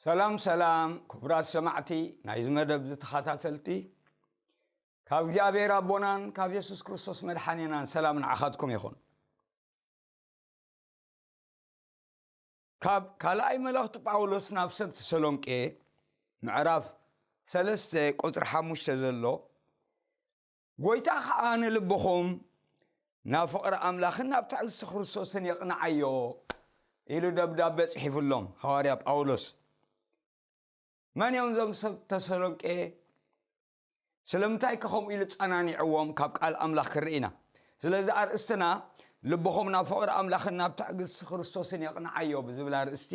ሰላም ሰላም ክቡራት ሰማዕቲ ናይዚ መደብ እዚ ተኸታተልቲ ካብ እግዚኣብሔር ኣቦናን ካብ የሱስ ክርስቶስ መድሓኒናን ሰላም ንዓኻትኩም ይኹን ካብ ካልኣይ መልእኽቲ ጳውሎስ ናብ ሰብ ተሰሎንቄ ምዕራፍ ሰለስተ ቁፅሪ ሓሙሽተ ዘሎ ጐይታ ኸዓ ንልብኹም ናብ ፍቕሪ ኣምላኽን ናብ ትዕግስቲ ክርስቶስን የቕንዓዮ ኢሉ ደብዳቤ ጽሒፍሎም ሃዋርያ ጳውሎስ መን እዮም እዞም ሰብ ተሰሎንቄ ስለምንታይከ ከምኡ ኢሉ ጸናኒዕዎም ካብ ቃል ኣምላኽ ክንርኢ ኢና። ስለዚ ኣርእስትና ልብኹም ናብ ፍቕሪ ኣምላኽን ናብ ትዕግስቲ ክርስቶስን የቕንዓዮ ብዝብል ኣርእስቲ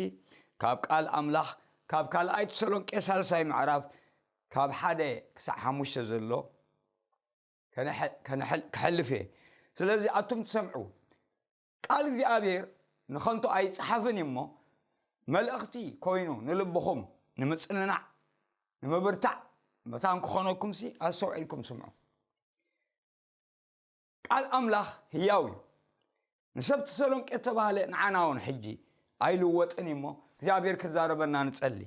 ካብ ቃል ኣምላኽ ካብ ካልኣይ ተሰሎንቄ ሳልሳይ ምዕራፍ ካብ ሓደ ክሳዕ ሓሙሽተ ዘሎ ክሕልፍ እየ ስለዚ ኣቱም ትሰምዑ ቃል እግዚኣብሔር ንኸንቱ ኣይጸሓፍን እዩ እሞ መልእኽቲ ኮይኑ ንልብኹም ንምጽንናዕ ንምብርታዕ መታን ክኾነኩምሲ ኣስተውዒልኩም ስምዑ ቃል ኣምላኽ ህያው እዩ ንሰብ ተሰሎንቄ እተባህለ ንዓና እውን ሕጂ ኣይልወጥን እዩ እሞ እግዚኣብሔር ክዛረበና ንጸሊ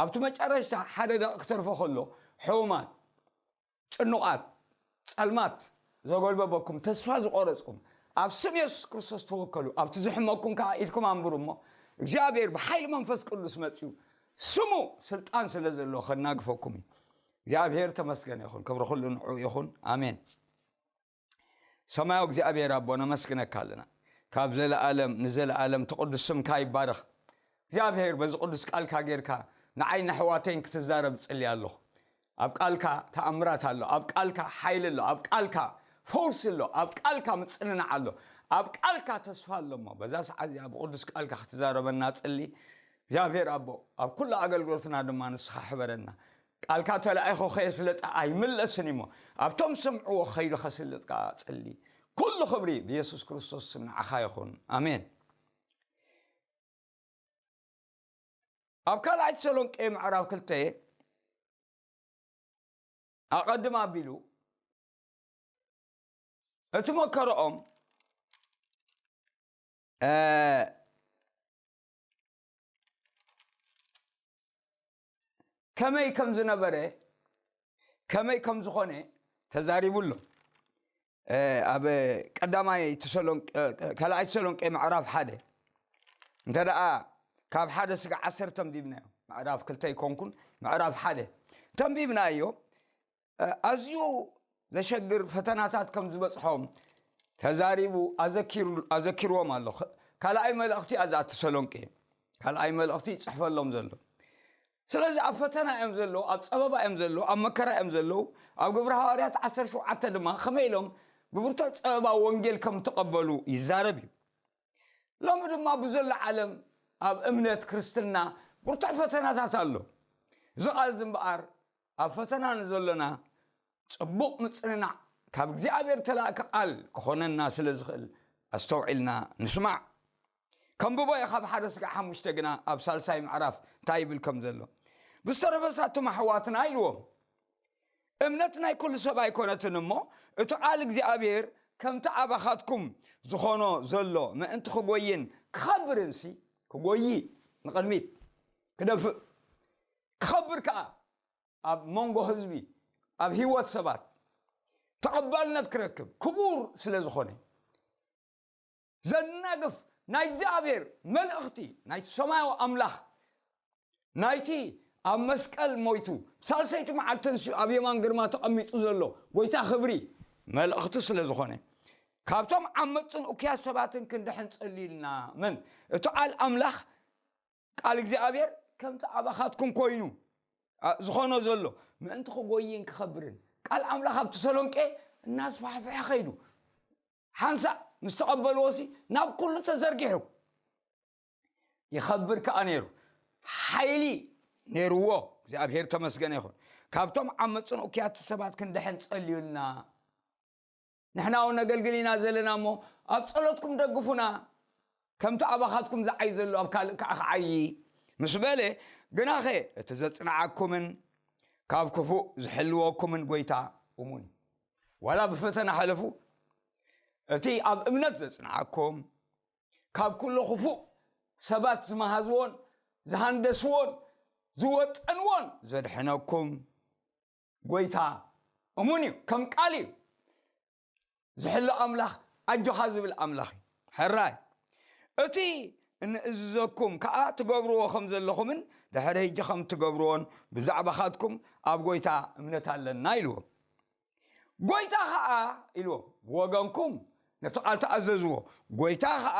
ኣብቲ መጨረሽታ ሓደ ደቂ ክተርፎ ከሎ ሕውማት ጭኑቓት፣ ጸልማት ዘጎልበበኩም፣ ተስፋ ዝቖረጽኩም፣ ኣብ ስም የሱስ ክርስቶስ ተወከሉ፣ ኣብቲ ዝሕመኩም ከኣ ኢድኩም ኣንብሩ እሞ፣ እግዚኣብሄር ብሓይሊ መንፈስ ቅዱስ መጺኡ፣ ስሙ ስልጣን ስለ ዘለዎ ከናግፈኩም እዩ። እግዚኣብሄር ተመስገነ ይኹን፣ ክብሪ ኩሉ ንዕኡ ይኹን፣ ኣሜን። ሰማያዊ እግዚኣብሔር ኣቦ ነመስግነካ ኣለና ካብ ዘለኣለም ንዘለኣለም ትቕዱስ ስምካ ይባረኽ እግዚኣብሔር በዚ ቅዱስ ቃልካ ጌርካ ንዓይ ንሕዋተይን ክትዛረብ ፅልያ ኣለኹ ኣብ ቃልካ ተኣምራት ኣሎ ኣብ ቃልካ ሓይሊ ኣሎ ኣብ ቃልካ ፈውሲ ኣሎ ኣብ ቃልካ ምፅንናዕ ኣሎ ኣብ ቃልካ ተስፋ ኣሎ እሞ በዛ ሰዓት እዚኣ ብቅዱስ ቃልካ ክትዛረበና ፅሊ እግዚኣብሔር ኣቦ ኣብ ኩሉ ኣገልግሎትና ድማ ንስኻ ሕበረና ቃልካ ተላኢኹ ከየስለጠ ኣይምለስን እዩሞ ኣብቶም ዝሰምዕዎ ከይዱ ከስልጥ ከኣ ጸሊ ኩሉ ክብሪ ብየሱስ ክርስቶስ ስም ንዓኻ ይኹን ኣሜን ኣብ ካልኣይ ተሰሎንቄ ምዕራብ ክልተ ኣቐድም ኣቢሉ እቲ መከረኦም ከመይ ከም ዝነበረ ከመይ ከም ዝኾነ ተዛሪቡ ኣሎ ኣብ ቀዳማይ ካልኣይ ተሰሎንቄ ምዕራፍ ሓደ እንተ ደኣ ካብ ሓደ ስጋ ዓሰርተ ኣንቢብናዮ ምዕራፍ ክልተ ኣይኮንኩን ምዕራፍ ሓደ ተንቢብናዮ ኣዝዩ ዘሸግር ፈተናታት ከም ዝበጽሖም ተዛሪቡ ኣዘኪርዎም ኣሎ ካልኣይ መልእኽቲ ኣዛ ተሰሎንቄ ካልኣይ መልእኽቲ ይጽሕፈሎም ዘሎ ስለዚ ኣብ ፈተና እዮም ዘለዉ ኣብ ጸበባ እዮም ዘለዉ ኣብ መከራ እዮም ዘለዉ ኣብ ግብሪ ሃዋርያት 17 ድማ ከመይ ኢሎም ብብርቱዕ ጸበባ ወንጌል ከም ተቐበሉ ይዛረብ እዩ ሎሚ ድማ ብዘሎ ዓለም ኣብ እምነት ክርስትና ብርቱዕ ፈተናታት ኣሎ እዚ ቓል ዝምበኣር ኣብ ፈተና ንዘሎና ጽቡቕ ምጽንናዕ ካብ እግዚኣብሔር እተላእከ ቓል ክኾነና ስለ ዝኽእል ኣስተውዒልና ንስማዕ። ከንብቦ እየ ካብ ሓደ ስጋዕ ሓሙሽተ ግና ኣብ ሳልሳይ ምዕራፍ እንታይ ይብል ከም ዘሎ። ብዝተረፈ ሳቶም ኣሕዋትና ኢልዎም እምነት ናይ ኩሉ ሰብ ኣይኮነትን እሞ እቲ ቃል እግዚኣብሔር ከምቲ ኣባኻትኩም ዝኾኖ ዘሎ ምእንቲ ክጎይን ክኸብርንሲ ክጎይ ንቕድሚት ክደፍእ ክኸብር ከኣ ኣብ መንጎ ህዝቢ ኣብ ህይወት ሰባት ተቐባልነት ክረክብ ክቡር ስለ ዝኾነ ዘናግፍ ናይ እግዚኣብሔር መልእኽቲ ናይ ሰማያዊ ኣምላኽ ናይቲ ኣብ መስቀል ሞይቱ ሳልሰይቲ መዓልቲ ተንሲኡ ኣብ የማን ግርማ ተቐሚጡ ዘሎ ጎይታ ክብሪ መልእኽቲ ስለ ዝኾነ ካብቶም ዓመፅን እኩያት ሰባትን ክንድሕን ጸልዩልና መን እቲ ቃል ኣምላኽ ቃል እግዚኣብሔር ከምቲ ኣባኻትኩም ኮይኑ ዝኾኖ ዘሎ ምእንቲ ክጎይን ክኸብርን ቃል ኣምላኽ ኣብ ተሰሎንቄ እናስፋሕፍሐ ኸይዱ ሓንሳእ ምስ ተቐበልዎ ሲ ናብ ኩሉ ተዘርጊሑ ይኸብር ከዓ ነይሩ ሓይሊ ነይርዎ እግዚኣብሔር ተመስገነ ይኹን ካብቶም ዓመፅን ኡኪያት ሰባት ክንድሕን ጸልዩልና ንሕና ውን ነገልግል ኢና ዘለና እሞ ኣብ ጸሎትኩም ደግፉና ከምቲ ኣባኻትኩም ዝዓይ ዘሎ ኣብ ካልእ ከዓ ክዓዪ ምስ በለ ግናኸ እቲ ዘጽንዓኩምን ካብ ክፉእ ዝሕልወኩምን ጎይታ እሙን እዩ ዋላ ብፈተና ሕለፉ እቲ ኣብ እምነት ዘጽንዓኩም ካብ ኩሎ ክፉእ ሰባት ዝመሃዝዎን ዝሃንደስዎን ዝወጠንዎን ዘድሕነኩም ጎይታ እሙን እዩ ከም ቃል እዩ ዝሕሎ ኣምላኽ ኣጆኻ ዝብል ኣምላኽ እዩ ሕራይ እቲ እንእዝዘኩም ከዓ ትገብርዎ ከም ዘለኹምን ድሕሪ ህጂ ከም ትገብርዎን ብዛዕባኻትኩም ኣብ ጎይታ እምነት ኣለና ኢልዎም ጎይታ ከዓ ኢልዎም ብወገንኩም ነቲ ቃል ተኣዘዝዎ ጎይታ ከዓ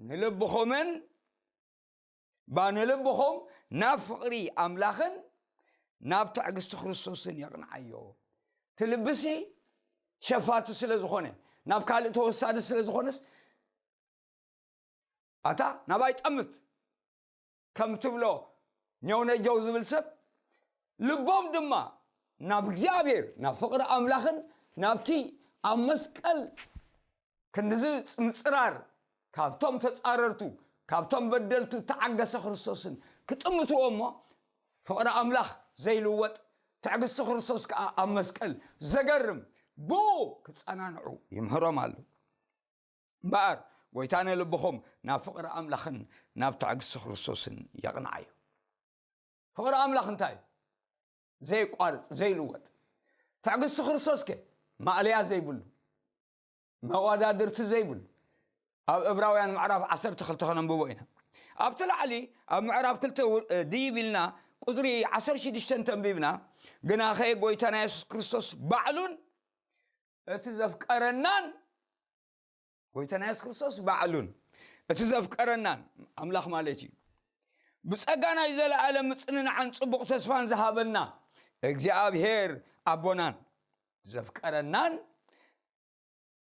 ንልብኹምን እባ ንልብኹም ናብ ፍቕሪ ኣምላኽን ናብ ትዕግስቲ ክርስቶስን የቕንዓዮ እቲ ልብሲ ሸፋቲ ስለ ዝኾነ ናብ ካልእ ተወሳዲ ስለ ዝኾነስ ኣታ ናባይ ጠምት ከም ትብሎ ኘውነጀው ዝብል ሰብ ልቦም ድማ ናብ እግዚኣብሔር ናብ ፍቕሪ ኣምላኽን ናብቲ ኣብ መስቀል ክንድዚ ጽንጽራር ካብቶም ተጻረርቱ ካብቶም በደልቱ እተዓገሰ ክርስቶስን ክጥምትዎ እሞ ፍቕሪ ኣምላኽ ዘይልወጥ ትዕግስቲ ክርስቶስ ከዓ ኣብ መስቀል ዘገርም ብኡ ክጸናንዑ ይምህሮም ኣሉ እምበኣር ጎይታ ንልብኹም ናብ ፍቕሪ ኣምላኽን ናብ ትዕግስቲ ክርስቶስን የቕንዓዮ ፍቕሪ ኣምላኽ እንታይ እዩ? ዜቋርጽ ዘይልወጥ ትዕግስቲ ክርስቶስ ከ ማእለያ ዘይብሉ መዋዳድርቲ ዘይብሉ ኣብ እብራውያን ምዕራፍ 12 ከነንብቦ ኢና ኣብቲ ላዕሊ ኣብ ምዕራብ ክልተ ድይብ ኢልና ቁፅሪ 16 ተንቢብና ግናኸ ጎይታና የሱስ ክርስቶስ ባዕሉን እቲ ዘፍቀረናን ጎይታና የሱስ ክርስቶስ ባዕሉን እቲ ዘፍቀረናን ኣምላኽ ማለት እዩ ብጸጋ ናይ ዘለኣለም ምጽንናዕን ጽቡቕ ተስፋን ዝሃበና እግዚኣብሄር ኣቦናን ዘፍቀረናን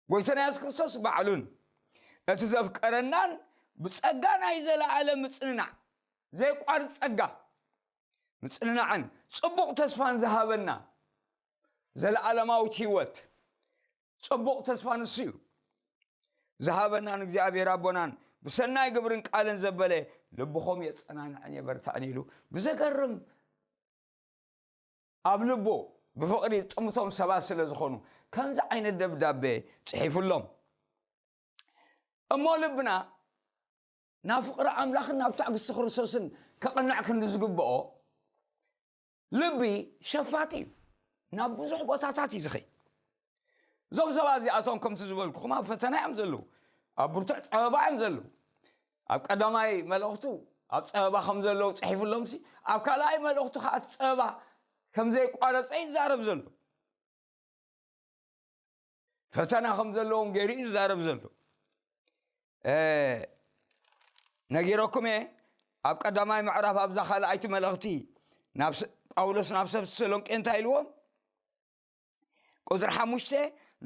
ጎይታና የሱስ ክርስቶስ ባዕሉን እቲ ዘፍቀረናን ብጸጋ ናይ ዘለኣለም ምጽንናዕ ዘይቋርጽ ጸጋ ምጽንናዕን ጽቡቕ ተስፋን ዝሃበና ዘለኣለማዊት ህይወት ጸቡቕ ተስፋ ንሱ እዩ ዝሃበናን እግዚኣብሔር ኣቦናን ብሰናይ ግብርን ቃልን ዘበለ ልብኹም የጸናንዕን የበርታዕን ኢሉ ብዘገርም ኣብ ልቦ ብፍቕሪ ጥምቶም ሰባት ስለ ዝኾኑ ከምዚ ዓይነት ደብዳቤ ጽሒፉሎም እሞ ልብና ናብ ፍቕሪ ኣምላኽን ናብ ትዕግስቲ ክርስቶስን ከቕንዕ ክንዲ ዝግብኦ ልቢ ሸፋቱ እዩ ናብ ብዙሕ ቦታታት እዩ ዝኸይድ እዞም ሰባት እዚኣቶም ከምቲ ዝበልኩኹም ኣብ ፈተና እዮም ዘለዉ ኣብ ብርቱዕ ፀበባ እዮም ዘለዉ ኣብ ቀዳማይ መልእኽቱ ኣብ ፀበባ ከም ዘለዉ ፅሒፍሎም ሲ ኣብ ካልኣይ መልእኽቱ ከዓ እቲ ፀበባ ከም ዘይቋረፀ ይዛረብ ዘሎ ፈተና ከም ዘለዎም ገይሩ እዩ ዝዛረብ ዘሎ ነጊረኩም እየ ኣብ ቀዳማይ ምዕራፍ ኣብዛ ካልኣይቲ መልእኽቲ ጳውሎስ ናብ ሰብ ተሰሎንቄ እንታይ ኢልዎም ቁፅሪ ሓሙሽተ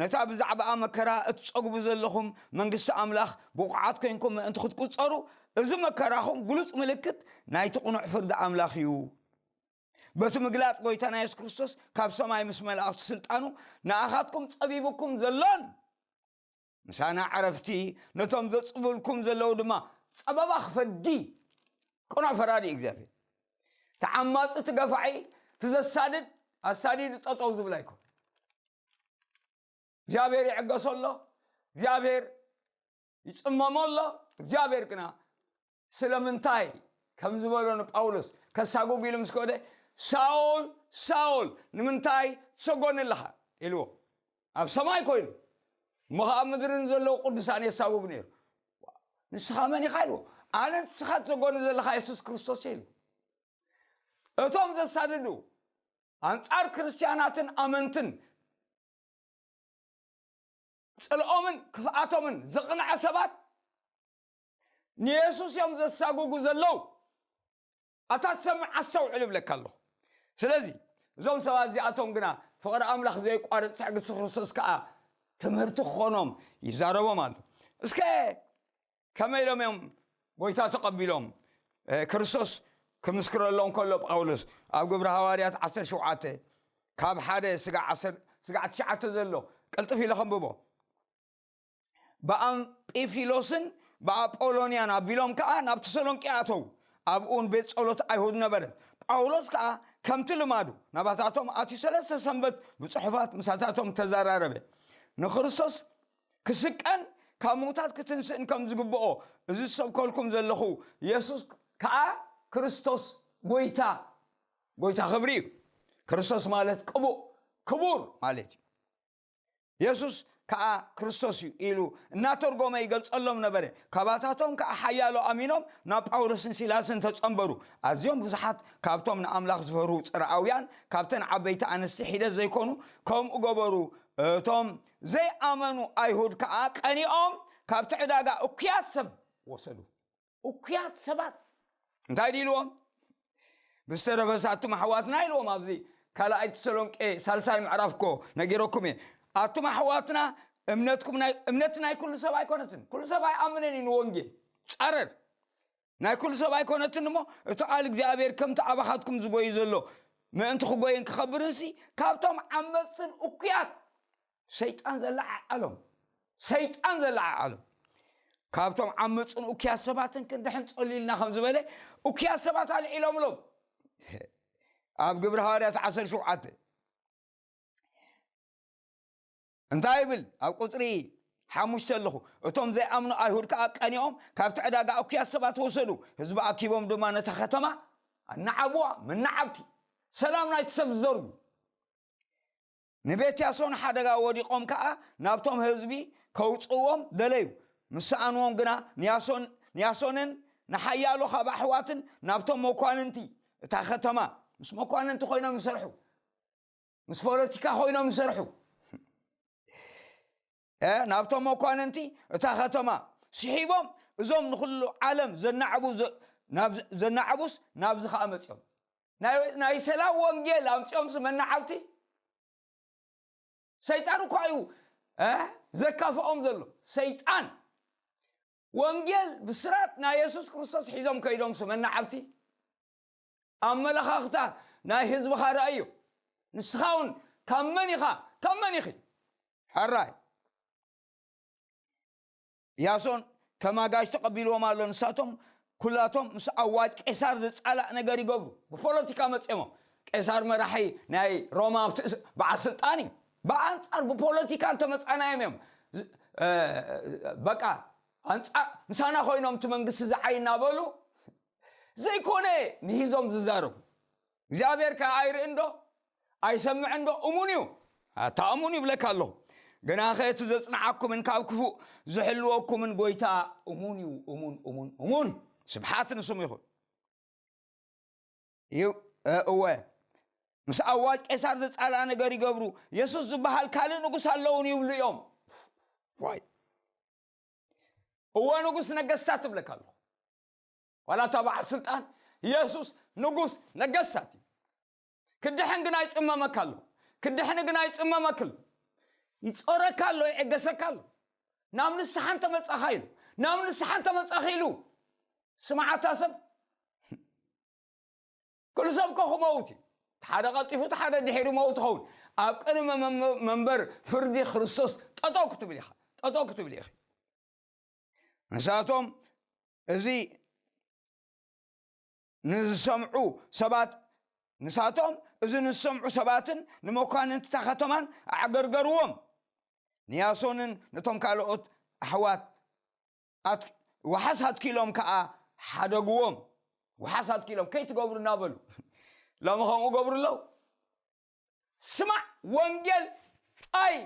ነታ ብዛዕባኣ መከራ እትፀግቡ ዘለኹም መንግስቲ ኣምላኽ ብቑዓት ኮንኩም ምእንቲ ክትቁፀሩ እዚ መከራኹም ግሉፅ ምልክት ናይቲ ቕኑዕ ፍርዲ ኣምላኽ እዩ በቲ ምግላጽ ጎይታና የሱስ ክርስቶስ ካብ ሰማይ ምስ መላእኽቲ ስልጣኑ ንኣኻትኩም ጸቢብኩም ዘሎን ምሳና ዕረፍቲ ነቶም ዘጽብልኩም ዘለዉ ድማ ጸበባ ክፈዲ ቅኑዕ ፈራዲ እዩ እግዚኣብሔር ተዓማፂ ትገፋዒ ትዘሳድድ ኣሳዲዱ ጠጠው ዝብል ኣይኮን እግዚኣብሔር ይዕገሶ ኣሎ እግዚኣብሔር ይጽመሞ ኣሎ እግዚኣብሔር ግና ስለምንታይ ከም ዝበሎ ንጳውሎስ ከሳጉግ ኢሉ ምስ ከደ ሳኦል ሳኦል ንምንታይ ትሰጎኒ ኣለኻ ኢልዎ ኣብ ሰማይ ኮይኑ እሞ ከዓ ምድርን ዘለዎ ቅዱሳን የሳጉግ ነይሩ ንስኻ መን ኢኻ ኢልዎ ኣነ ንስኻ ትሰጎኒ ዘለኻ የሱስ ክርስቶስ ኢሉ እቶም ዘሳድዱ ኣንጻር ክርስትያናትን ኣመንትን ጽልኦምን ክፍኣቶምን ዘቕንዐ ሰባት ንየሱስ እዮም ዘሳጉጉ ዘለዉ ኣብታ ትሰምዕ ኣስተውዕል እብለካ ኣለኹ ስለዚ እዞም ሰባት እዚኣቶም ግና ፍቕሪ ኣምላኽ ዘይቋርፅ ትዕግስቲ ክርስቶስ ከዓ ትምህርቲ ክኾኖም ይዛረቦም ኣሎ እስከ ከመይ ኢሎም እዮም ጎይታ ተቐቢሎም ክርስቶስ ክምስክረሎም ከሎ ጳውሎስ ኣብ ግብሪ ሃዋርያት 17 ካብ ሓደ ስጋዕ ትሽዓተ ዘሎ ቅልጥፍ ኢለ ከንብቦ ብኣምጲፊሎስን ብኣጶሎንያን ኣቢሎም ከዓ ናብ ተሰሎንቄ ኣተው ኣብኡን ቤት ጸሎት ኣይሁድ ነበረት ጳውሎስ ከዓ ከምቲ ልማዱ ናባታቶም ኣትዩ ሰለስተ ሰንበት ብፅሑፋት ምሳታቶም ተዘራረበ ንክርስቶስ ክስቀን ካብ ምዉታት ክትንስእን ከም ዝግብኦ እዚ ዝሰብከልኩም ዘለኹ የሱስ ከኣ ክርስቶስ ጐይታ ጐይታ ክብሪ እዩ ክርስቶስ ማለት ቅቡእ ክቡር ማለት እዩ የሱስ ከዓ ክርስቶስ እዩ ኢሉ እናተርጎመ ይገልጸሎም ነበረ ካባታቶም ከዓ ሓያሎ ኣሚኖም ናብ ጳውሎስን ሲላስን ተጸንበሩ ኣዝዮም ብዙሓት ካብቶም ንኣምላኽ ዝፈርሁ ጽርኣውያን ካብተን ዓበይቲ ኣንስቲ ሒደት ዘይኮኑ ከምኡ ገበሩ እቶም ዘይኣመኑ ኣይሁድ ከኣ ቀኒኦም ካብቲ ዕዳጋ እኩያት ሰብ ወሰዱ። እኩያት ሰባት እንታይ ድዩ ኢልዎም? ብዝተረፈስ ኣቱም ኣሕዋትና ኢልዎም ኣብዚ ካልኣይ ተሰሎንቄ ሳልሳይ ምዕራፍ እኮ ነጊረኩም እየ ኣቱም ኣሕዋትና እምነትኩም እምነት ናይ ኩሉ ሰብ ኣይኮነትን ኩሉ ሰብ ኣይኣምንን እዩ ንወንጌል ጸረር ናይ ኩሉ ሰብ ኣይኮነትን እሞ እቲ ቃል እግዚኣብሔር ከምቲ ኣባኻትኩም ዝጎይ ዘሎ ምእንቲ ክጎይን ክኸብርንሲ ካብቶም ዓመፅትን እኩያት ሰይጣን ዘለዓዓሎም ሰይጣን ዘለዓዓሎም ካብቶም ዓመፅን እኩያት ሰባትን ክንድሕን ፀሊልና ከም ዝበለ እኩያት ሰባት ኣልዒሎምሎም ኣብ ግብሪ ሃዋርያት 17 እንታይ ይብል ኣብ ቁጽሪ ሓሙሽተ ኣለኹ እቶም ዘይኣምኑ ኣይሁድ ከኣ ቀኒኦም ካብቲ ዕዳጋ እኩያት ሰባት ወሰዱ ህዝቢ ኣኪቦም ድማ ነታ ከተማ ኣናዓብዋ መናዓብቲ ሰላም ናይቲ ሰብ ዝዘርጉ ንቤት ያሶን ሓደጋ ወዲቖም ከኣ ናብቶም ህዝቢ ከውፅዎም ደለዩ ምስ ሰኣንዎም ግና ንያሶን ንያሶንን ንሓያሎ ካብ ኣሕዋትን ናብቶም መኳንንቲ እታ ከተማ ምስ መኳንንቲ ኮይኖም ይሰርሑ ምስ ፖለቲካ ኮይኖም ዝሰርሑ ናብቶም መኳንንቲ እታ ከተማ ስሒቦም እዞም ንኩሉ ዓለም ዘናዕቡ ዘናዕቡስ ናብዚ ከዓ መፅኦም ናይ ሰላም ወንጌል ኣምፅኦምስ መናዓብቲ ሰይጣን እኳ እዩ ዘካፍኦም ዘሎ ሰይጣን ወንጌል ብስራት ናይ የሱስ ክርስቶስ ሒዞም ከይዶምስ መናዓብቲ ኣመለኻኽታ ናይ ህዝብኻ ረኣዮ። ንስኻ እውን ካብ መን ኢኻ ካብ መን ኢኺ? ሕራይ ያሶን ከም ኣጋዥ ተቐቢልዎም ኣሎ። ንሳቶም ኩላቶም ምስ ኣዋጅ ቄሳር ዝጻላእ ነገር ይገብሩ። ብፖለቲካ መጽሞ ቄሳር መራሒ ናይ ሮማ በዓል ስልጣን እዩ። ብኣንጻር ብፖለቲካ እንተመጻናዮም እዮም በቃ ኣንጻር ምሳና ኮይኖም እቲ መንግስቲ ዝዓይ እናበሉ ዘይኮነ ምሂዞም ዝዛረቡ እግዚኣብሔር ከ ኣይርእን ዶ ኣይሰምዕን ዶ እሙን እዩ ኣታ እሙን ይብለካ ኣለኹ ግና ኸ እቲ ዘጽንዓኩምን ካብ ክፉእ ዝሕልወኩምን ጎይታ እሙን እዩ እሙን እሙን እሙን ስብሓት ንስሙ ይኹን እዩ እወ ምስ ኣዋጅ ቄሳር ዘጻልኣ ነገር ይገብሩ የሱስ ዝበሃል ካልእ ንጉስ ኣለውን ይብሉ እዮም ዋይ እወ ንጉስ ነገስታት እብለካ ኣለኹ ዋላ እታ በዓል ስልጣን ኢየሱስ ንጉስ ነገስታት እዩ ክድሕን ግና ይፅመመካ ኣሎ ክድሕን ግና ይፅመመክ ኣሎ ይፆረካ ኣሎ ይዕገሰካ ኣሎ ናብ ንስሓ እንተመፃኻ ኢሉ ናብ ንስሓ እንተመፃኺ ኢሉ ስምዓታ ሰብ ኩሉ ሰብ እኮ ክመውት እዩ እቲ ሓደ ቀልጢፉ እቲ ሓደ ድሒሩ መውት ኸውን ኣብ ቅድሚ መም- መንበር ፍርዲ ክርስቶስ ጠጠው ክትብል ኢኻ ጠጠው ክትብል ኢኺ ንሳቶም እዚ ንዝሰምዑ ሰባት ንሳቶም እዚ ንዝሰምዑ ሰባትን ንመኳንንቲ እታ ከተማን ኣዕገርገርዎም ንያሶንን ነቶም ካልኦት ኣሕዋት ውሓስ ኣትኪሎም ከዓ ሓደግዎም ውሓስ ኣትኪሎም ከይትገብሩ እናበሉ ሎሚ ከምኡ ገብሩ ኣለዉ ስማዕ ወንጌል ኣይ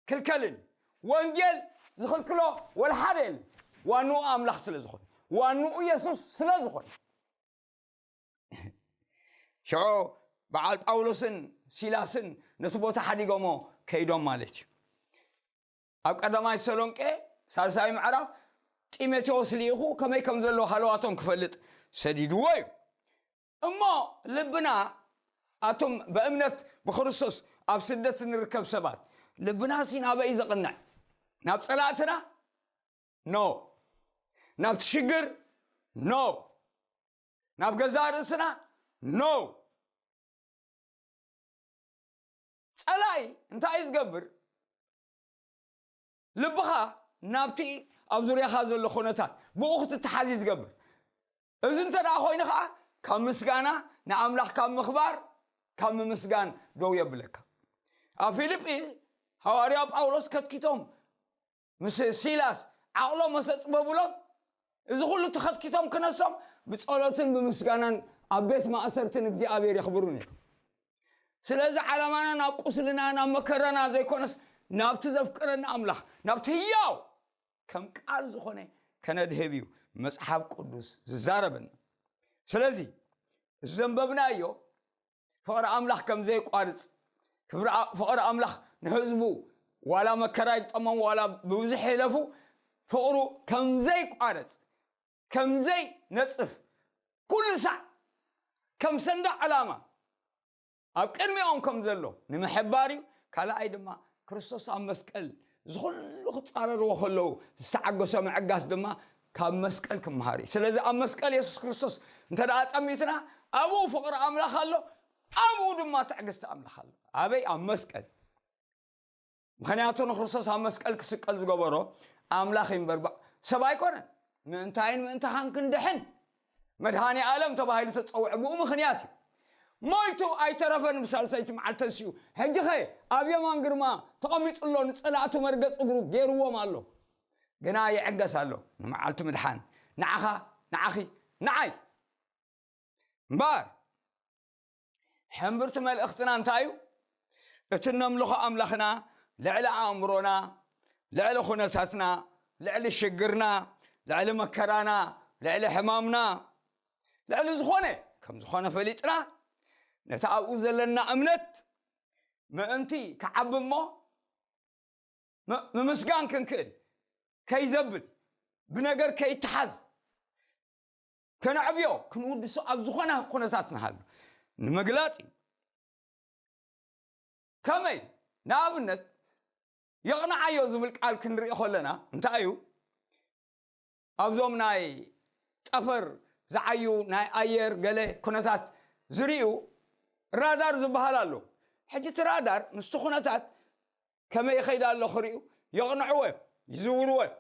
ክልከልን እዩ። ወንጌል ዝኽልክሎ ወላ ሓደ የለን። ዋንኡ ኣምላኽ ስለ ዝኾነ፣ ዋንኡ የሱስ ስለ ዝኾነ። ሽዑ በዓል ጳውሎስን ሲላስን ነቲ ቦታ ሓዲጎሞ ከይዶም ማለት እዩ። ኣብ ቀዳማይ ሰሎንቄ ሳልሳይ ምዕራፍ ጢሞቴዎስ ልኢኹ ከመይ ከም ዘሎ ሃለዋቶም ክፈልጥ ሰዲድዎ እዩ። እሞ ልብና ኣቱም በእምነት ብክርስቶስ ኣብ ስደት ንርከብ ሰባት ልብና ሲ ናበይ ዘቕንዕ ናብ ፀላእትና ኖ ናብ ትሽግር ኖ ናብ ገዛ ርእስና ኖ ፀላኢ እንታይ እዩ ዝገብር ልብኻ ናብቲ ኣብ ዙርያኻ ዘሎ ኩነታት ብኡ ክትተሓዝ እዩ ዝገብር እዚ እንተ ደኣ ኮይኑ ከዓ ካብ ምስጋና ንኣምላኽ ካብ ምኽባር ካብ ምምስጋን ደው የብለካ ኣብ ፊልጲ ሃዋርያ ጳውሎስ ከትኪቶም ምስ ሲላስ ዓቕሎም መሰፅበብሎም እዚ ኩሉ ተኸትኪቶም ክነሶም ብጸሎትን ብምስጋናን ኣብ ቤት ማእሰርትን እግዚኣብሔር የኽብሩ ነይሮም ስለዚ ዓላማና ናብ ቁስልና ናብ መከራና ዘይኮነስ ናብቲ ዘፍቅረና ኣምላኽ ናብቲ ህያው ከም ቃል ዝኾነ ከነድህብ እዩ መጽሓፍ ቅዱስ ዝዛረበና ስለዚ እዚ ዘንበብናዮ ፍቕሪ ኣምላኽ ከም ዘይቋርጽ ፍቕሪ ኣምላኽ ንህዝቡ ዋላ መከራ ይግጠሞም ዋላ ብብዙሕ ይለፉ ፍቕሩ ከም ዘይቋረጽ ከምዘይ ነጽፍ ኩሉ ሳዕ ከም ሰንደቅ ዕላማ ኣብ ቅድሚኦም ከም ዘሎ ንምሕባር እዩ ካልኣይ ድማ ክርስቶስ ኣብ መስቀል ዝኩሉ ክጻረርዎ ከለዉ ዝተዓገሶ ምዕጋስ ድማ ካብ መስቀል ክምሃር እዩ ስለዚ ኣብ መስቀል የሱስ ክርስቶስ እንተ ደኣ ጠሚትና ኣብኡ ፍቕሪ ኣምላኽ ኣሎ ኣብኡ ድማ ትዕግስቲ ኣምላኽ ኣሎ ኣበይ ኣብ መስቀል ምክንያቱ ንክርስቶስ ኣብ መስቀል ክስቀል ዝገበሮ ኣምላኽ እዩ እምበር ሰብ ኣይኮነን ምእንታይን ምእንታኻን ክንድሕን መድሃኒ ኣለም ተባሂሉ ተፀውዐ ብኡ ምክንያት እዩ ሞይቱ ኣይተረፈን ብሳልሰይቲ መዓልቲ ተንስኡ ሕጂ ኸ ኣብ የማን ግርማ ተቐሚጡ ኣሎ ንፀላእቱ መርገፂ እግሩ ገይርዎም ኣሎ ግና ይዕገስ ኣሎ ንመዓልቲ ምድሓን ንዓኻ ንዓኺ ንዓይ እምበር ሕምብርቲ መልእኽትና እንታይ እዩ እቲ እነምልኾ ኣምላኽና ልዕሊ ኣእምሮና ልዕሊ ኩነታትና ልዕሊ ሽግርና ልዕሊ መከራና ልዕሊ ሕማምና ልዕሊ ዝኾነ ከም ዝኾነ ፈሊጥና ነቲ ኣብኡ ዘለና እምነት ምእንቲ ክዓቢ እሞ ምምስጋን ክንክእል ከይዘብል ብነገር ከይተሓዝ ከነዕብዮ ክንውድሶ ኣብ ዝኾነ ኩነታት ንሃሉ ንምግላፅ እዩ ከመይ ንኣብነት የቕንዓዮ ዝብል ቃል ክንርኢ ከለና እንታይ እዩ ኣብዞም ናይ ጠፈር ዝዓዩ ናይ ኣየር ገለ ኩነታት ዝርዩ ራዳር ዝበሃል ኣሎ ሕጂ እቲ ራዳር ምስቲ ኩነታት ከመይ ይኸይድ ኣሎ ክሪኡ የቕንዕዎ እዮም ይዝውርዎ እዮም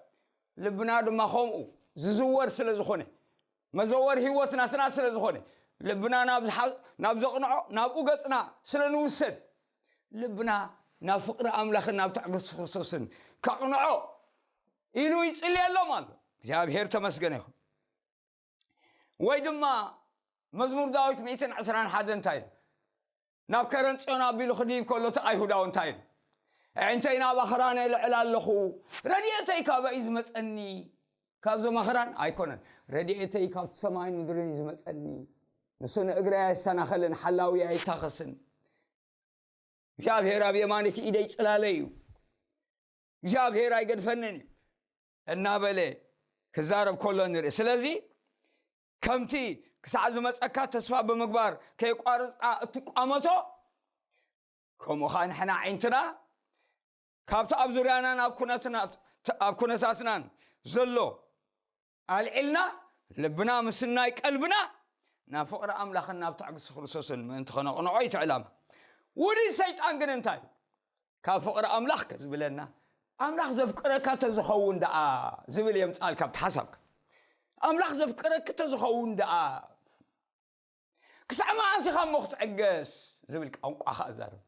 ልብና ድማ ከምኡ ዝዝወር ስለ ዝኾነ መዘወር ህይወት ናትና ስለ ዝኾነ ልብና ናብ ዘቕንዖ ናብኡ ገፅና ስለ ንውሰድ ልብና ናብ ፍቅሪ ኣምላኽን ናብ ትዕግስቲ ክርስቶስን ከቕንዖ ኢሉ ይፅልየሎም ኣሎ እግዚኣብሔር ተመስገነ ይኹን ወይ ድማ መዝሙር ዳዊት ሚእትን ዕስራን ሓደ እንታይ ኢሉ ናብ ከረን ፅዮን ኣቢሉ ክድይብ ከሎ እቲ ኣይሁዳዊ እንታይ ኢሉ ኣዒንተይ ናብ ኣኽራን የልዕል ኣለኹ ረድኤተይ ካበይ ዝመፀኒ ካብዞም ኣኽራን ኣይኮነን ረድኤተይ ካብቲ ሰማይን ምድርን እዩ ዝመፀኒ ንሱ ንእግረይ ኣየሰናኸልን ሓላዊ ኣይታኸስን እግዚኣብሔር ኣብ የማነቲ ኢደይ ፅላለ እዩ እግዚኣብሔር ኣይገድፈንን እዩ እናበለ ክዛረብ ከሎ ንርኢ ስለዚ ከምቲ ክሳዕ ዝመፀካ ተስፋ ብምግባር ከይቋርፅካ እትቋመቶ ከምኡ ከዓ ንሕና ዓይንትና ካብቲ ኣብ ዙርያናን ኣብ ኩነታትናን ዘሎ ኣልዒልና ልብና ምስናይ ቀልብና ናብ ፍቕሪ ኣምላኽን ናብ ትዕግስቲ ክርስቶስን ምእንቲ ከነቕንዖ ይትዕላማ ውዲት ሰይጣን ግን እንታይ እዩ ካብ ፍቕሪ ኣምላኽ ከ ዝብለና ኣምላኽ ዘፍቅረካ ተዝኸውን ደኣ ዝብል የምጻልካ ኣብቲ ሓሳብካ ኣምላኽ ዘፍቅረኪ ተዝኸውን ደኣ ክሳዕ መዓስ ኢኻ እሞ ክትዕገስ ዝብል ቋንቋ ኸኣ ዛርብ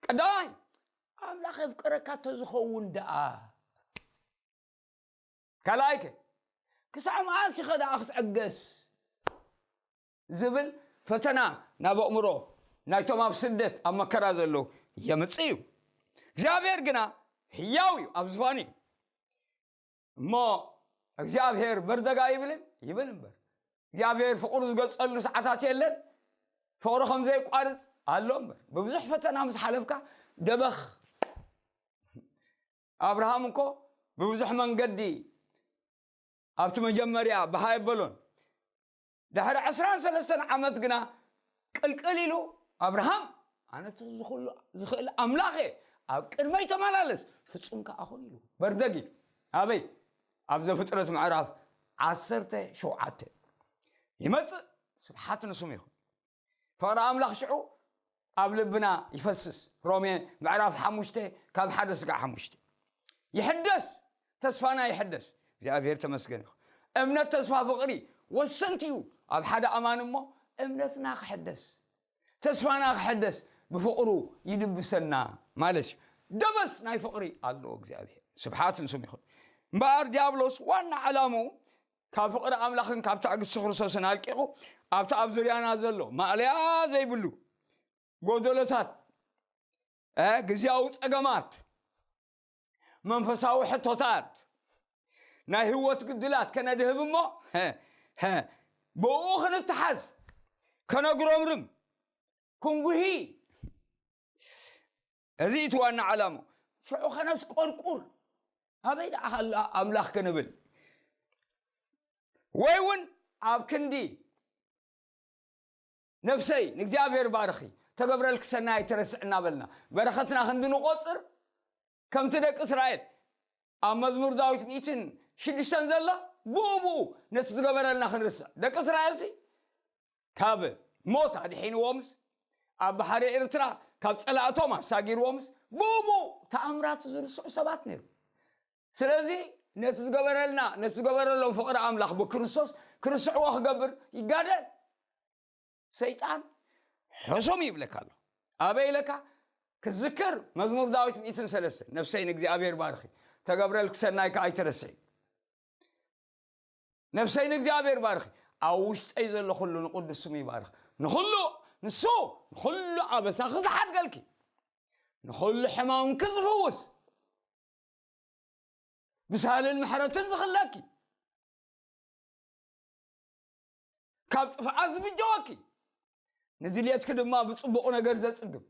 ቀዳማይ ኣምላኽ የፍቅረካ ተዝኸውን ደኣ ካልኣይከ ክሳዕ መዓስ ኢኸ ደኣ ክትዕገስ ዝብል ፈተና ናብ ኣእምሮ ናይቶም ኣብ ስደት ኣብ መከራ ዘለዉ የምፅእ እዩ እግዚኣብሔር ግና ህያው እዩ ኣብ ዝፋኑ እዩ እሞ እግዚኣብሔር በርደጋ ይብልን ይብል እምበር እግዚኣብሔር ፍቅሩ ዝገልፀሉ ሰዓታት የለን ፍቅሩ ከምዘይቋርፅ ኣሎ እምበር ብብዙሕ ፈተና ምስ ሓለፍካ ደበኽ ኣብርሃም እኮ ብብዙሕ መንገዲ ኣብቲ መጀመርያ ብሃይ በሎን ድሕሪ ዕስራን ሰለስተን ዓመት ግና ቅልቅል ኢሉ ኣብርሃም ኣነ እቲ ዝኽሉ ዝኽእል ኣምላኽ እየ ኣብ ቅድመይ ተመላለስ ፍጹም ከዓ ኹን ኢሉ በርደግ ኢሉ ኣበይ ኣብ ዘፍጥረት ምዕራፍ ዓሰርተ ሸውዓተ ይመፅእ ስብሓት ንስሙ ይኹን ፍቕሪ ኣምላኽ ሽዑ ኣብ ልብና ይፈስስ ሮሜ ምዕራፍ ሓሙሽተ ካብ ሓደ ስጋዕ ሓሙሽተ ይሕደስ ተስፋና ይሕደስ እግዚኣብሔር ተመስገን ይኹ እምነት ተስፋ ፍቕሪ ወሰንቲ እዩ ኣብ ሓደ ኣማን እሞ እምነትና ክሕደስ ተስፋና ክሕደስ ብፍቕሩ ይድብሰና ማለት እዩ ደበስ ናይ ፍቕሪ ኣለዎ እግዚኣብሔር ስብሓት ንስም ይኹን እምበኣር ዲያብሎስ ዋና ዓላሙ ካብ ፍቕሪ ኣምላኽን ካብ ትዕግስቲ ክርስቶስን ኣርቂቑ ኣብቲ ኣብ ዙርያና ዘሎ ማእለያ ዘይብሉ ጎደሎታት ግዜያዊ ጸገማት መንፈሳዊ ሕቶታት ናይ ህይወት ግድላት ከነድህብ እሞ ብኡ ክንተሓዝ ከነጉረምርም ክንጉሂ እዚ እቲ ዋና ዓላምኡ። ሽዑ ከነስቆርቁር ኣበይ ደኣ ሃላ ኣምላኽ ክንብል ወይ እውን ኣብ ክንዲ ነፍሰይ ንእግዚኣብሔር ባርኺ ተገብረልኪ ሰናይ ኣይትረስዕ እናበልና በረኸትና ክንዲ ንቆፅር ከምቲ ደቂ እስራኤል ኣብ መዝሙር ዳዊት ሚእትን ሽዱሽተን ዘላ ብኡ ብኡ ነቲ ዝገበረልና ክንርስዕ ደቂ እስራኤልሲ ካብ ሞት ኣድሒንዎምስ፣ ኣብ ባሕሪ ኤርትራ ካብ ጸላእቶም ኣሳጊርዎምስ፣ ብኡብኡ ተኣምራቱ ዝርስዑ ሰባት ነይሮም። ስለዚ ነቲ ዝገበረልና፣ ነቲ ዝገበረሎም ፍቕሪ ኣምላኽ ብክርስቶስ ክርስዕዎ ክገብር ይጋደል። ሰይጣን ሕሱም ይብለካ ኣሎ። ኣበይ ኢለካ ክትዝክር መዝሙር ዳዊት ሚእትን ሰለስተ ነፍሰይ ንእግዚኣብሔር ባርኺ ተገብረልኪ ሰናይ ከኣ ኣይትረስዒ። ነፍሰይ ንእግዚኣብሔር ባርኺ ኣብ ውሽጠይ ዘሎ ኩሉ ንቅዱስ ስሙ ይባርኽ ንኹሉ ንሱ ንኹሉ ኣበሳኺ ዝሓድገልኪ ንኹሉ ሕማምኪ ዝፍውስ ብሳልን ምሕረትን ዝኽለኪ ካብ ጥፍኣት ዝብጀወኪ ንድልየትኪ ድማ ብፅቡቕ ነገር ዘፅግብ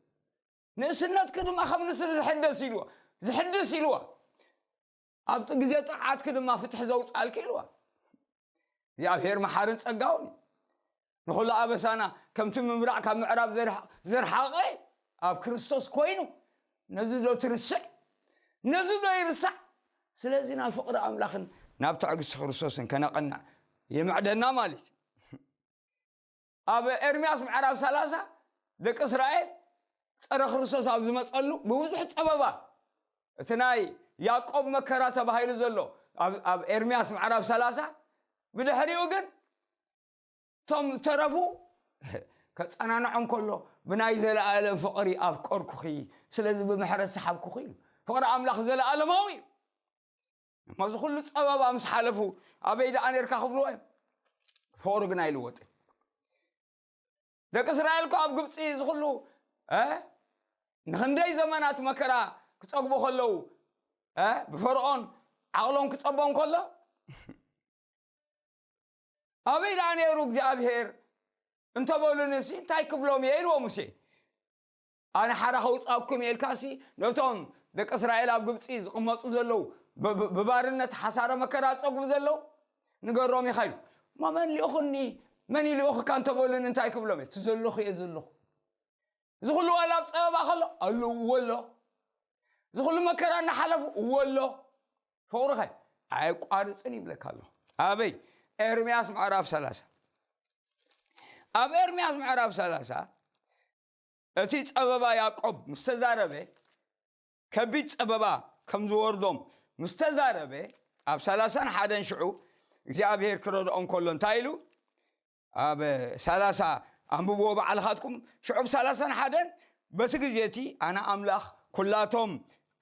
ንእስነትኪ ድማ ከም ንስሪ ዝሕደስ ኢልዎ ዝሕድስ ኢልዎ ኣብቲ ግዜ ጥምዓትኪ ድማ ፍትሒ ዘውጻልኪ ኢልዋ እግዚኣብሔር መሓርን ጸጋውን እዩ ንኹሉ ኣበሳና ከምቲ ምብራቕ ካብ ምዕራብ ዝርሓቐ ኣብ ክርስቶስ ኮይኑ ነዚ ዶ ትርስዕ ነዚ ዶ ይርሳዕ ስለዚ ናብ ፍቕሪ ኣምላኽን ናብ ትዕግስቲ ክርስቶስን ከነቐናዕ ይምዕደና ማለት እዩ ኣብ ኤርምያስ ምዕራፍ ሰላሳ ደቂ እስራኤል ጸረ ክርስቶስ ኣብ ዝመጸሉ ብብዙሕ ጸበባ እቲ ናይ ያዕቆብ መከራ ተባሂሉ ዘሎ ኣብ ኤርምያስ ምዕራፍ ሰላሳ ብድሕሪኡ ግን እቶም ዝተረፉ ከጸናንዖም ከሎ ብናይ ዘለኣለም ፍቕሪ ኣፍቀርኩኺ ስለዚ ብምሕረት ሰሓብኩኺ ኢሉ ፍቕሪ ኣምላኽ ዘለኣለማዊ እዩ እሞ እዚ ኩሉ ፀበባ ምስ ሓለፉ ኣበይ ደኣ ነርካ ክብልዎ እዮም ፍቅሩ ግን ኣይልወጥን ደቂ እስራኤል እኮ ኣብ ግብፂ እዚ ኩሉ ንክንደይ ዘመናት መከራ ክፀግቡ ከለዉ ብፈርኦን ዓቕሎም ክፀቦም ከሎ ኣበይ ደኣ ነይሩ እግዚኣብሄር እንተበሉንሲ እንታይ ክብሎም እየ ኢልዎ ሙሴ ኣነ ሓራ ከውጻኩም እየ ኢልካሲ ነቶም ደቂ እስራኤል ኣብ ግብጺ ዝቕመጡ ዘለዉ ብባርነት ሓሳረ መከራ ጸጉቡ ዘለዉ ንገሮም ኢኻ ኢሉ እሞ መን ልኡኹኒ መን እዩ ልኡኽካ እንተበሉን እንታይ ክብሎም እየ እቲ ዘለኹ እየ ዘለኹ እዚ ኩሉ ዋላ ኣብ ጸበባ ከሎ ኣሉ እዎ ኣሎ እዚ ኩሉ መከራ እናሓለፉ እዎ ኣሎ ፍቕሩኸ ኣየቋርፅን ይብለካ ኣለኹ ኣበይ ኤርምያስ ምዕራፍ ሰላሳ ኣብ ኤርምያስ ምዕራፍ ሰላሳ እቲ ጸበባ ያዕቆብ ምስ ተዛረበ ከቢድ ጸበባ ከም ዝወርዶም ምስ ተዛረበ ኣብ ሰላሳን ሓደን ሽዑ እግዚኣብሔር ክረድኦም ከሎ እንታይ ኢሉ ኣብ ሰላሳ ኣንብብዎ በዓልኻትኩም ሽዑ ብ ሰላሳን ሓደን በቲ ግዜ እቲ ኣነ ኣምላኽ ኩላቶም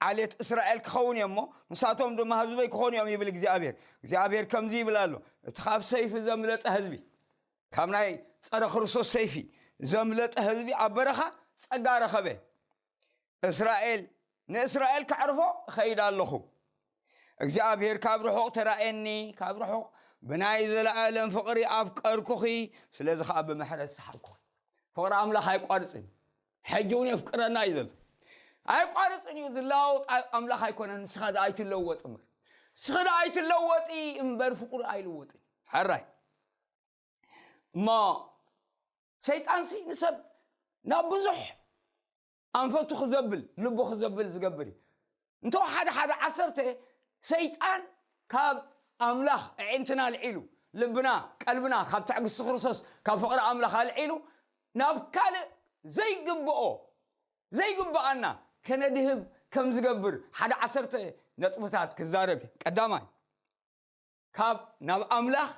ዓሌት እስራኤል ክኸውን እዮ እሞ ንሳቶም ድማ ህዝበይ ክኾኑ እዮም ይብል እግዚኣብሔር እግዚኣብሔር ከምዚ ይብል ኣሎ እቲ ካብ ሰይፊ ዘምለጠ ህዝቢ ካብ ናይ ጸረ ክርስቶስ ሰይፊ ዘምለጠ ህዝቢ ኣብ በረኻ ጸጋ ረኸበ። እስራኤል ንእስራኤል ከዕርፎ እኸይድ ኣለኹ። እግዚኣብሔር ካብ ርሑቕ ተራእየኒ፣ ካብ ርሑቕ ብናይ ዘለኣለም ፍቕሪ ኣፍቀርኩኺ፣ ስለዚ ከዓ ብምሕረት ሰሓብኩኺ። ፍቕሪ ኣምላኽ ኣይቋርፅን እዩ። ሕጂ እውን የፍቅረና እዩ ዘሎ። ኣይቋርፅን እዩ ዝለዋወጥ ኣምላኽ ኣይኮነን። ንስኻ ዶ ኣይትለወጥ እምበር ንስኺ ዶ ኣይትለወጢ እምበር ፍቕሪ ኣይልወጥን። ሕራይ እሞ ሰይጣንሲ ንሰብ ናብ ብዙሕ ኣንፈቱ ክዘብል ልቡ ክዘብል ዝገብር እዩ እንተ ሓደ ሓደ ዓሰርተ ሰይጣን ካብ ኣምላኽ ኣዒንትና ኣልዒሉ ልብና ቀልብና ካብ ትዕግስቲ ክርስቶስ ካብ ፍቕሪ ኣምላኽ ኣልዒሉ ናብ ካልእ ዘይግብኦ ዘይግብኣና ከነድህብ ከም ዝገብር ሓደ ዓሰርተ ነጥብታት ክዛረብ እዩ ቀዳማይ ካብ ናብ ኣምላኽ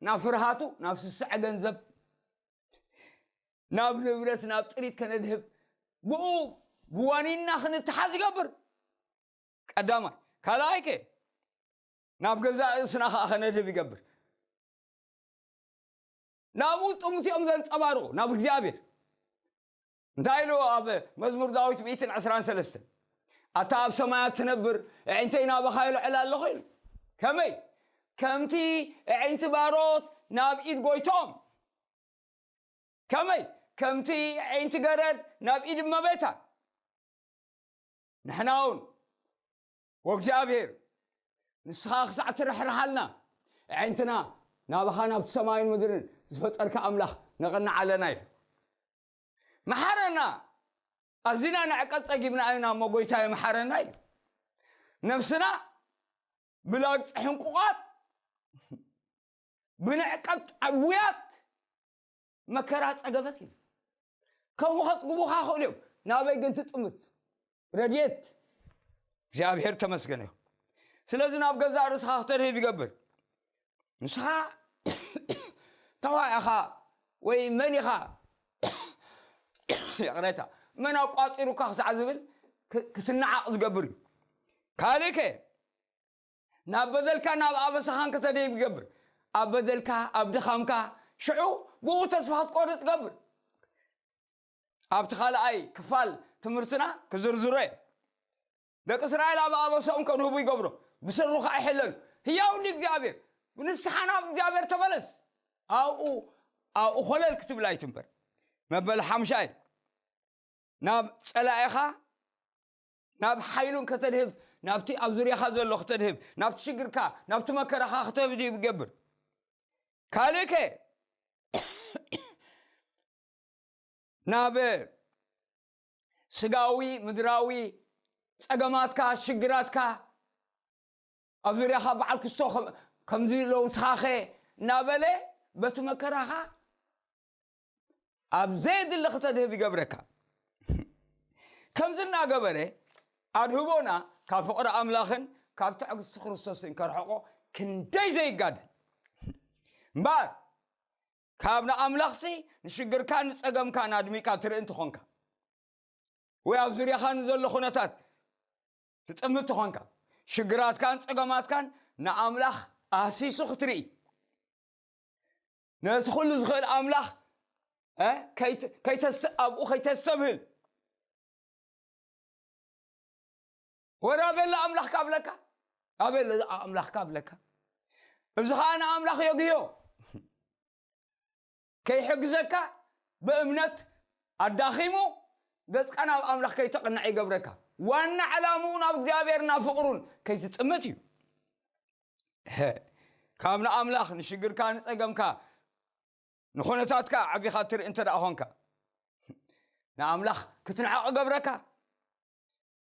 ናብ ፍርሃቱ ናብ ስስዐ ገንዘብ ናብ ንብረት ናብ ጥሪት ከነድህብ ብኡ ብዋኒና ክንተሓዝ ይገብር ቀዳማይ ካልኣይ ከ ናብ ገዛእ ርእስና ከዓ ከነድህብ ይገብር ናብኡ ጥሙት እዮም ዘንፀባርቑ ናብ እግዚኣብሔር እንታይ ኢሉ ኣብ መዝሙር ዳዊት ሚእትን ዕስራን ሰለስትን ኣታ ኣብ ሰማያት ትነብር ኣዒንተይ ናባኻ ይልዕል ኣለኹ ኢሉ ከመይ ከምቲ ኣዒንቲ ባሮት ናብ ኢድ ጎይቶም ከመይ ከምቲ ኣዒንቲ ገረድ ናብ ኢድ እመቤታ ንሕና እውን ወእግዚኣብሔር ንስኻ ክሳዕ ትርሕርሓልና ኣዒንትና ናባኻ ናብቲ ሰማይን ምድርን ዝፈጠርካ ኣምላኽ ነቕንዕ ኣለና ኢሉ መሓረና ኣዚና ንዕቀት ጸጊብና ኢና እሞ ጎይታየ መሓረና ኢሉ ነፍስና ብላግፂ ሕንቁቓት ብንዕቀት ዓጉያት መከራ ጸገበት እዩ ከምኡ ከጽግቡኻ ክእሉ እዮም ናበይ ግን ትጥምት ረድኤት እግዚኣብሔር ተመስገነ ይኹን ስለዚ ናብ ገዛእ ርእስኻ ክተድህብ ይገብር ንስኻ ተዋይ ኢኻ ወይ መን ኢኻ ይቕሬታ መን ኣቋፂሩካ ክሳዕ ዝብል ክ- ክትነዓቕ ዝገብር እዩ ካልእ ከ ናብ በደልካ ናብ ኣበሳኻን ከተደይብ ይገብር ኣብ በደልካ ኣብ ድኻምካ ሽዑ ብኡ ተስፋ ክትቆርፅ ገብር ኣብቲ ካልኣይ ክፋል ትምህርትና ክዝርዝሮ እየ ደቂ እስራኤል ኣብ ኣበሶም ከንህቡ ይገብሮ ብስሩ ከዓ ይሕለሉ ህያው ንእግዚኣብሔር ብንስሓ ናብ እግዚኣብሔር ተመለስ ኣብኡ ኣብኡ ኮለል ክትብል ኣይትንበር መበል ሓምሻይ ናብ ፀላኢኻ ናብ ሓይሉን ከተድህብ ናብቲ ኣብ ዙርያኻ ዘሎ ክተድህብ ናብቲ ሽግርካ ናብቲ መከራኻ ክተህብ ይገብር ካልእ ከ ናብ ስጋዊ ምድራዊ ጸገማትካ ሽግራትካ ኣብ ዙርያኻ በዓል ክሶ ከምዚ ሎ ንስኻኸ እናበለ በቲ መከራኻ ኣብ ዘየድሊ ክተድህብ ይገብረካ ከምዚ እናገበረ ኣድህቦና ካብ ፍቕሪ ኣምላኽን ካብ ትዕግስቲ ክርስቶስን ከርሕቆ ክንደይ ዘይጋደል እምበር ካብ ንኣምላኽሲ ንሽግርካን ንጸገምካን ኣድሚካ ትርኢ እንተኾንካ ወይ ኣብ ዙርያኻ ንዘሎ ኩነታት ትጥምት ተኾንካ ሽግራትካን ጸገማትካን ንኣምላኽ ኣህሲሱ ክትርኢ ነቲ ኩሉ ዝኽእል ኣምላኽ ኣብኡ ከይተሰብህል ወረ ኣበሎ ኣምላኽካ ኣብለካ ኣበሎ ኣምላኽካ ኣብለካ እዚ ከዓ ንኣምላኽ የግዮ ከይሕግዘካ ብእምነት ኣዳኺሙ ገጽካ ናብ ኣምላኽ ከይተቕንዕ ይገብረካ ዋና ዕላምኡ ናብ እግዚኣብሔር ናብ ፍቕሩን ከይትጥምት እዩ ካብ ንኣምላኽ ንሽግርካ ንጸገምካ ንኹነታትካ ዓቢኻ እትርኢ እንተ ደኣ ኾንካ ንኣምላኽ ክትንዕቕ ገብረካ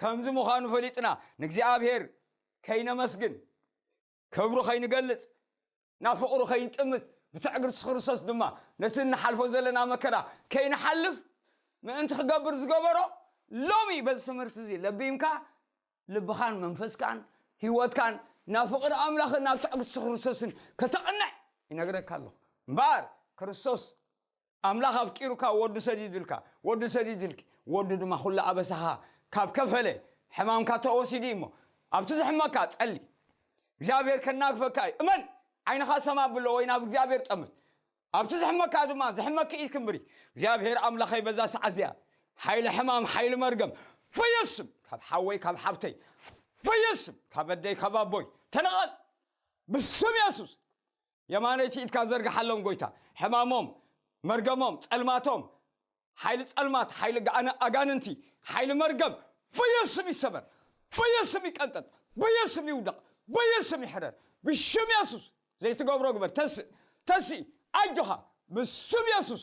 ከምዚ ምዃኑ ፈሊጥና ንእግዚኣብሔር ከይነመስግን ክብሩ ከይንገልጽ ናብ ፍቕሩ ከይንጥምት ብትዕግርሲ ክርስቶስ ድማ ነቲ እንሓልፎ ዘለና መከራ ከይንሓልፍ ምእንቲ ክገብር ዝገበሮ ሎሚ በዚ ትምህርቲ እዚ ለቢምካ ልብኻን መንፈስካን ህይወትካን ናብ ፍቕሪ ኣምላኽን ናብ ትዕግስቲ ክርስቶስን ከተቕንዕ ይነግረካ ኣለኹ እምበኣር ክርስቶስ ኣምላኽ ኣፍቂሩካ ወዱ ሰዲዱልካ ወዱ ሰዲዱልኪ ወዱ ድማ ኩሉ ኣበሳኻ ካብ ከፈለ ሕማምካ ተወሲዱ እዩ እሞ ኣብቲ ዝሕመካ ጸሊ እግዚኣብሔር ከናግፈካ እዩ እመን ዓይንኻ ሰማ ብሎ ወይ ናብ እግዚኣብሔር ጠምት ኣብቲ ዝሕመካ ድማ ዝሕመኪ ኢድ ክንብሪ እግዚኣብሔር ኣምላኸይ በዛ ሰዓት እዚኣ ሓይሊ ሕማም ሓይሊ መርገም በየስም ካብ ሓወይ ካብ ሓብተይ በየስም ካብ ኣደይ ካብ ኣቦይ ተነቐል ብስም የሱስ የማነይቲ ኢድካ ዘርግሓሎም ጎይታ ሕማሞም መርገሞም ጸልማቶም ሓይሊ ጸልማት ሓይሊ ኣጋንንቲ ሓይሊ መርገም በየስም ይሰበር በየስም ይቀንጠጥ በየስም ይውደቕ በየስም ይሕረር ብሽም የሱስ ዘይትገብሮ ግበር ተስእ ተስእ ኣጆኻ ብስም የሱስ